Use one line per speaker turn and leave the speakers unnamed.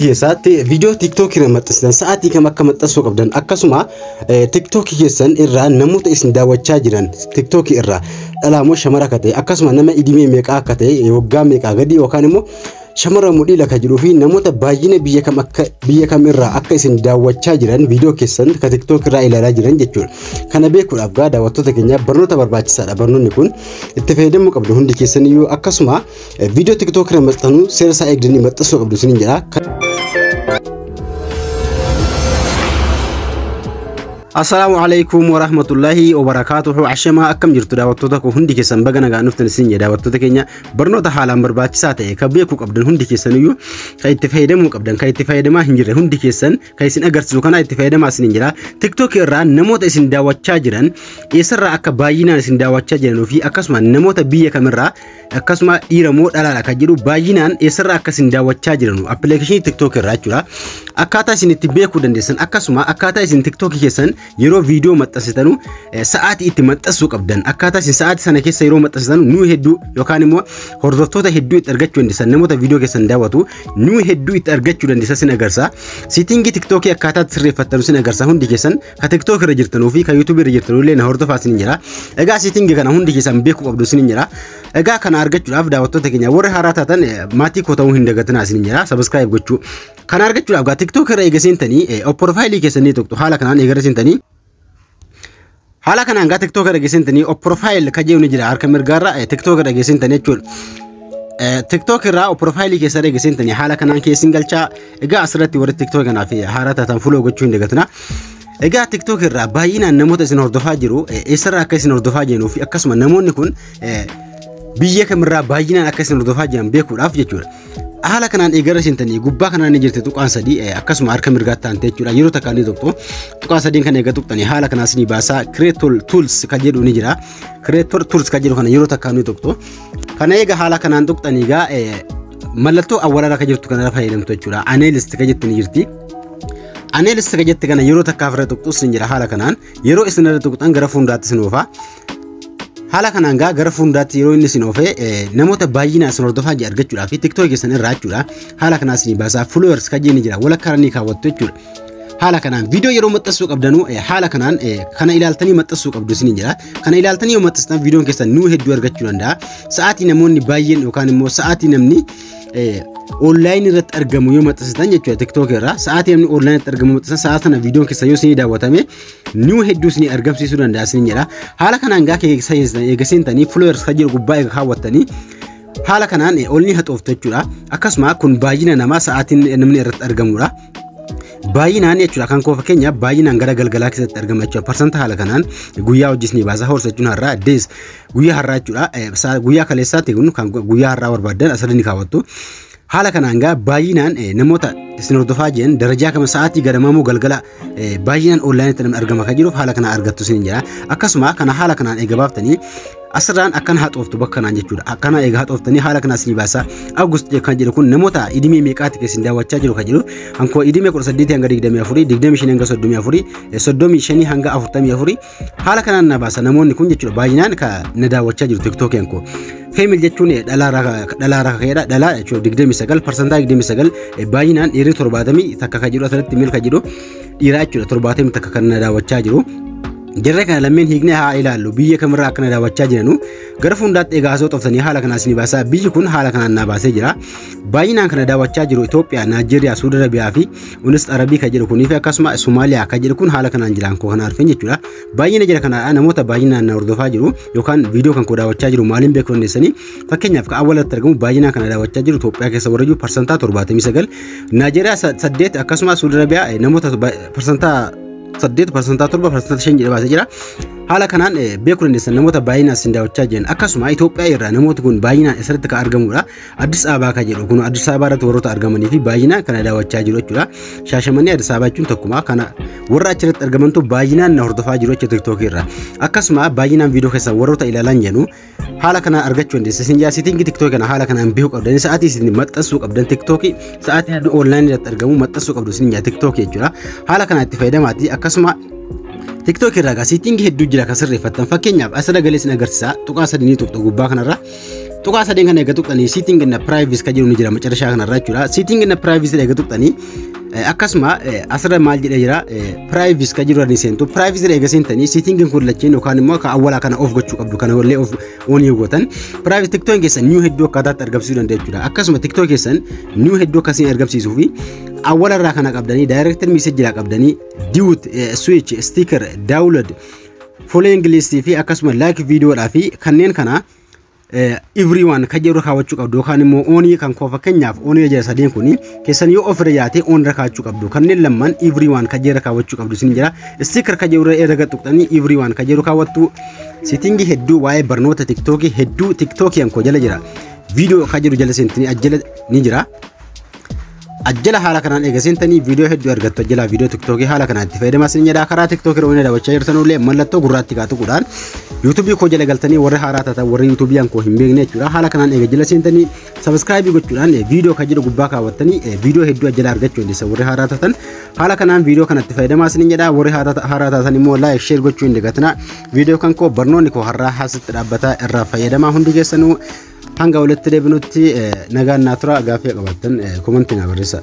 keessaatti viidiyoo tiktookii irra maxxansitan sa'aatii kam akka maxxansuu qabdan akkasuma tiktookii keessan irraa namoota isin daawwachaa jiran tiktookii irraa dhalaamoo shamara akka ta'e akkasuma nama idimee meeqaa akka ta'e waggaa meeqaa gadi yookaan immoo shamara mudhii laka jiruu fi namoota baay'ina biyya kam akka biyya kam irraa akka isin daawwachaa jiran viidiyoo keessan ka tiktookii irraa ilaalaa jiran jechuudha. Kana beekuudhaaf gaa daawwattoota keenyaaf barnoota barbaachisaadha barnoonni kun itti fayyadamuu qabdu hundi keessaniyyuu akkasuma Viidiyoo TikTok irra maxxanuu seera isaa eegdanii maxxansuu qabdu isiniin jedha. Assalaamu alaikum warahmatullahi wabarakaatuhu ashamaa akkam jirtu daawwattoota koo hundi keessan baga nagaan dhuftan isin jedha daawwattoota keenya barnoota haalaan barbaachisaa ta'e kan beekuu qabdan hundi keessan iyyuu kan itti fayyadamuu qabdan kan itti fayyadamaa hin jirre hundi keessan kan isin agarsiisu kana itti fayyadamaa isin jedha tiktok irraa namoota isin daawwachaa jiran eessarraa akka baay'inaan isin daawwachaa jiran fi akkasuma namoota biyya kamirraa akkasuma dhiira moo dhalaadha kan jedhu baay'inaan eessarraa akka isin daawwachaa jiranu appilikeeshinii tiktook irraa jechuudha. Akkaataa isin itti beekuu dandeessan akkasuma akkaataa isin tiktookii keessan yeroo viidiyoo maxxansitanu eh, sa'aatii itti maxxansuu qabdan akkaataa isin sa'aatii sana keessa yeroo maxxansitanu nuu hedduu yookaan immoo hordoftoota hedduu itti argachuu dandeessan namoota viidiyoo keessan daawwatu nuu hedduu itti argachuu dandeessan sin agarsiisa. Siitingii tiktookii akkaataa itti sirreeffattanu sin agarsiisa hundi keessan Ka TikTok irra jirtanuu fi ka YouTube irra jirtanuu illee na hordofaa isin jira. Egaa siitingi kana hundi keessan beekuu qabdu isin jira. Egaa kana argachuudhaaf daawwattoota keenya warri haaraa taatan eh, maatii koo ta'uu hin dagatinaa isin jira. Subscribe gochuu. Kana argachuudhaaf gaa TikTok irra eega seentanii eh, of profile keessan ni tuqxu. Haala kanaan eega irra seentanii Haala kanaan gaa TikTok irra geessintanii of profile ka jedhu ni jira harka mirgaarra eh, TikTok irra geessintanii jechuudha. Eh, TikTok irraa of profile keessa irra geessintanii haala kanaan keessin galchaa Egaa asirratti warri TikTok kanaa fi haaraa taatan follow gochuu hin dagatina. Egaa TikTok irraa baay'inaan namoota isin hordofaa jiru eh, eessarraa akka isin hordofaa jiruu fi akkasuma namoonni kun eh, biyya kamirraa baay'inaan akka isin hordofaa jiran beekuudhaaf jechuudha. Haala kanaan eegara isin tanii gubbaa kanaan ni jirti tuqaan sadii eh, akkasuma harka mirgaatti taante jechuudha yeroo takka ni tuqxu tuqaa sadiin kan eega tuqxanii haala kanaan isin baasaa creator tools kan jedhu ni jira creator tools kan jedhu kana yeroo takka ni tuqxu Kana egaa haala kanaan tuqxan egaa mallattoo awwaalaa irra jirtu kanarra fayyadamtu jechuudha. Aneelist kan jettu ni jirti. Aneelist kan jette kana yeroo takkaaf irra tuqxu isin jira haala kanaan yeroo isin irra tuqxan gara fuulduraatti isin oofa. Haala kanaan gaa gara fuulduraatti yeroo inni isin oofe namoota baay'ina isin hordofaa jiru argachuudhaa fi tiktookii keessan irraa jechuudha. Haala kanaa isin baasaa followers kan jenni jira walakkaa irra ni kaawwattu jechuudha. haala kanaan viidiyoo yeroo maxxansuu qabdanu haala kanaan kana ilaaltanii maxxansuu qabdu isiniin jedha kana ilaaltanii yoo maxxanstan viidiyoon keessan nuu hedduu argachuu danda'a sa'aatii namoonni baay'een yookaan immoo sa'aatii namni online irratti argamu yoo maxxansitan jechuudha tiktok irraa sa'aatii namni online irratti argamu maxxansan sa'a sana viidiyoon keessan yoo isinii daawwatame nuu hedduu isinii argamsiisuu danda'a isiniin jedha haala kanaan gaa eegasiintanii followers kan jiru gubbaa eega kaawwattanii haala kanaan olni haxooftu jechuudha akkasuma kun baay'ina namaa sa'aatiin namni irratti argamudha. baay'inaan jechuudha kan koo fakkeenyaaf baay'inaan gara galgalaa keessatti argama jechuudha parsanta haala kanaan guyyaa hojis ni baasa horsa jechuun har'aa dees guyyaa har'aa jechuudha guyyaa kaleessaatti kun kan guyyaa har'aa barbaadan asirratti ni kaawwattu haala kanaan gaa baay'inaan namoota isin hordofaa jiran darajaa kama sa'aatii garamamoo galgala baay'inaan onlaayinitti argama kan jiruuf haala kanaan argattu isin jira akkasuma kana haala kanaan eega baaftanii Asirraan akkana haxooftu bakka kanaan jechuudha. Akkana egaa haxooftanii haala kanaa isinii baasaa. Awugust kan jedhu kun namoota idimee meeqaatti keessin daawwachaa jiru kan jedhu hankoo idimee 18 hanga 24, 25 hanga 34, 35 hanga 44 haala kanaan na baasa namoonni kun jechuudha baay'inaan ka na daawwachaa jiru tiktookii hankoo. Feemil jechuun dhalaarraa ka'eedha. Dhalaa jechuudha 29 parsantaa 29 baay'inaan dhiirri 70 takka kan jedhu asirratti mil kan jedhu dhiiraa jechuudha torbaatamii takka kan na daawwachaa jiru. Jarree kana lammeen hiiknee haa ilaallu biyya kamirraa akka na daawwachaa jiranu gara fuuldaatti egaa osoo xoftanii haala kanaas ni baasaa biyyi kun haala kanaan naa baasee jira. Baay'inaan kana daawwachaa jiru Itoophiyaa, Naajeeriyaa, Suudi Arabiyaa fi Unis Arabii kan jedhu kunii fi akkasuma Somaaliyaa kan jedhu kun haala kanaan jiraan koo kana arfin jechuudha. Baay'ina jira kana namoota baay'inaan na hordofaa jiru yookaan viidiyoo kan koo daawwachaa jiru maaliin beeku dandeessanii Fakkeenyaaf kan awwaalatti argamu baay'inaan kana daawwachaa jiru Itoophiyaa keessa warra jiru parsantaa 79, Naajeeriyaa 8 akkasumas Suudi Arabiyaa eh, namoota ba- parsantaa 8 parsantaa 7 parsantaa 5 jedhee baasee jira. Haala kanaan eh, beekuu dandeessan namoota baay'inaan isin daawwachaa jiran akkasuma Itoophiyaa irraa namooti kun baay'inaan eessatti kan argamudha. Addis Ababaa kan jedhu kun Addis Ababaa irratti warroota argamanii fi baay'inaan kana daawwachaa jiru jechuudha. Shaashamannee Addis Ababaa jechuun tokkuma kana warra achirratti argamantu baay'inaan na hordofaa jiru jechuudha TikTok irraa. Akkasuma baay'inaan viidiyoo keessan warroota ilaalan jedhu haala kana argachuu dandeessa. Isin yaa siitiingi tiktookii kana haala kanaan beekuu qabdan. Sa'aatii isin maxxansuu qabdan tiktookii sa'aatii namni online irratti argamu maxxansuu qabdu isin yaa tiktookii jechuudha. Haala kanaan itti fayyadamaatii akkasuma TikTok irraa egaa siitiingi hedduu jira kan sirreeffattan fakkeenyaaf as sagalee isin agarsiisa tuqaa sadii ni tuqxu gubbaa kanarra tuqaa sadeen kana egaa tuqxanii siitiingi na privacy kan jedhu ni jira macarashaa kanarra jechuudha siitiingi na privacy egaa tuqxanii Eh, Akkasuma eh, asirra maal jedhee jira piraayivis kan jiru ni seentu piraayivis irra eegasii tanii siitingiin kun lacheen yookaan immoo akka awwalaa kana of gochuu qabdu kana wallee of oon yoo gootan piraayivis tiktoon keessan niiw hedduu akkaataatti argamsiisuu danda'a jechuudha akkasuma tiktoo keessan niiw hedduu akkasiin argamsiisuu fi awwala irraa kana qabdanii daayirektir miisejii irraa qabdanii diwut swiich stiikar daawulad folee ingiliistii fi akkasuma laayik viidiyoodhaa fi kanneen kana Ivrii waan kan jedhu kaawwachuu qabdu yookaan immoo oonii kan koo fakkeenyaaf oonii jira sadeen kun keessan yoo ofirra yaate oon irra kaawwachuu qabdu kanneen lamman ivrii waan kan jedhu kaawwachuu qabdu isin jira sticker kan jedhu irra erga tuqxanii ivrii waan kan jedhu kaawwattu sitingi hedduu waa'ee barnoota tiktookii hedduu tiktookiin koo jala jira viidiyoo kan jedhu jala seentanii ajjala ni jira. ajjala haala kanaan eega seentanii viidiyoo hedduu argattu ajjala viidiyoo tiktookii haala kanaan itti fayyadamaa isin jedhaa karaa tiktookii irra waliin daawwachaa jirtan illee mallattoo gurraatti kaa tuquudhaan yuutuubii koo jala galtanii warri haaraa taatan warri yuutuubii koo hin beekne jechuudha haala kanaan eega jala seentanii sabiskiraayibii gochuudhaan viidiyoo kan jedhu gubbaa kaawwattanii viidiyoo hedduu ajjala argachuu dandeessa warri haaraa taatan haala kanaan viidiyoo kanatti fayyadamaa isin jedhaa warri haaraa taatan immoo laayik sheer gochuu hin dagatinaa viidiyoo kan koo barnoonni koo har'aa haasitti dhaabbataa irraa fayyadamaa hundi keessanuu Hanga walitti deebinutti nagaan naa tura gaaffii qabaattan komantii naa barreessa.